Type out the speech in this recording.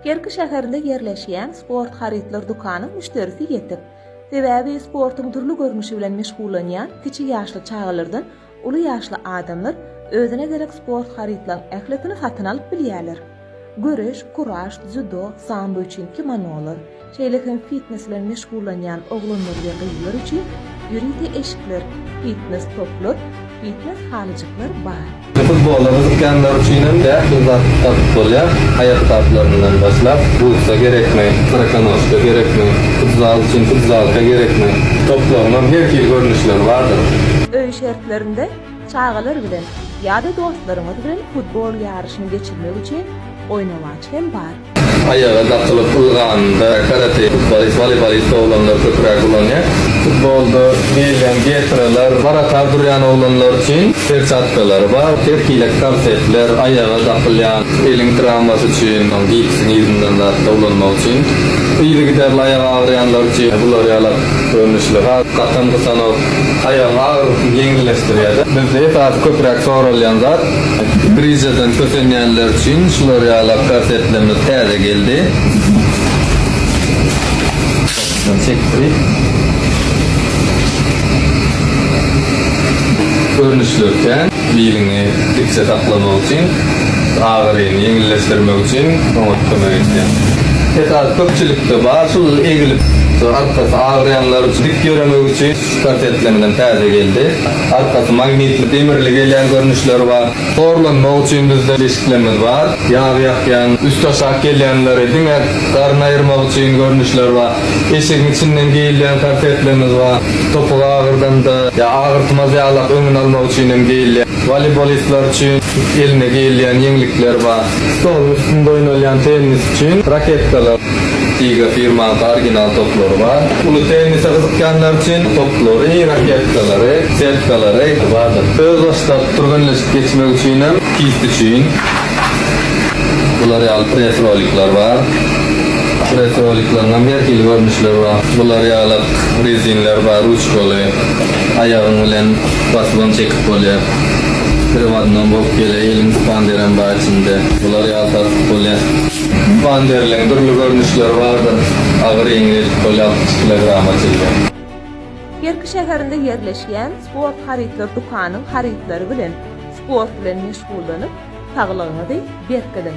Kerki şäherinde ýerleşýän Sport harytlar dükanyň müşderisi ýetik. Sebäbi sportuň dürli görnüşi bilen meşgullanýan kiçi ýaşly çagalardan uly ýaşly adamlar özüne gerek sport harytlaryň ählisini satyn alyp bilýärler. Göreş, kuraş, dzýudo, sambo üçin kimonolar, Şeýle hem fitnes bilen meşgullanýan oglanlar we gyzlar üçin ýörite eşikler, fitnes toplar, fitnes halyjyklar bar. Futbola gyzykýanlar üçin hem ähli zat tapyp bolýar, aýakgaplaryndan başlap, butsa gerekmi, strokonoşka gerekmi, futzal üçin futzalka gerekmi, toplaryňam her hili görnüşleri bardyr. Öý şertlerinde çagalar bilen ýa-da dostlaryňyz bilen futbol ýaryşyny geçirmek üçin oýnawaç hem bar. Aýaga dakylyp ylganynda karate, futbolist, woleýbolist oglanlar köpräk ulanýar. Futbolda geýilýän getralar, barakar durýan oglanlar üçin perçatkalary bar. Her hili korsetler, aýaga dakylýan, eliň trawmasy üçin, gipsiň yzyndan zatlar ulanmak üçin, yzygiderli aýagy agyrýanlar üçin bular ýalak görnüşli has gatam gysanok, aýagyň agyrysyny ýeňilleşdirýär-de. Bizde esasy köpräk soralýan zat Brižeden kösenýänler üçin şular ýalak gazetlerimiz täze geldi. Görnüşleri kän. Biliňi dikje saklamak üçin, agyryny ýeňilleşdirmek üçin oňat kömek edýär. Esasy köpçülikde bar, şul egilip, arkasy agyrýanlar üçin, dik ýöremek üçin. Sport entleminden täze geldi. Arkasy magnitli demirli gelýän görnüşleri bar. Horlanmak üçin bizde deşiklerimiz bar. Ýag ýakýan, üsti aşak gelýänleri diňe garyny aýyrmak üçin görnüşler bar. Eşigiň içinden geýilýän korsetlerimiz bar. Topugy agyrdanda ýa agyrtmaz ýalak öňüni almak üçin hem geýilýär. Woleýbolistler üçin eline geýilýän ýeňlikler bar. Stoluň üstünde oýnalýan tennis üçin raketkalar. Tiga firmasy original toplary bar. Uly tennise gyzykýanlar üçin toplary, raketkalary, setkalary bardyr. Öz başlap, türgenleşip geçmek üçinem kist üçin bular ýaly press rolikler bar. Press rolikleriňem her hili görnüşleri bar. Bular ýaly rezinler bar, ruçkaly. Aýagyň bilen basybam çekip bolýar. Priwodnam bolup gelýär, eliň spanerem bar içinde. Bular ýaly satyp bolýar. Wanderliň dürli görnüşleri bardyr, agyr, ýeňil, polýaltyk kilogram atylýar. Kerki şäherinde ýerleşýän Sport harytlar dükanyň harytlary bilen sport bilen meşgullanyp, saglygyňyzy berkidiň!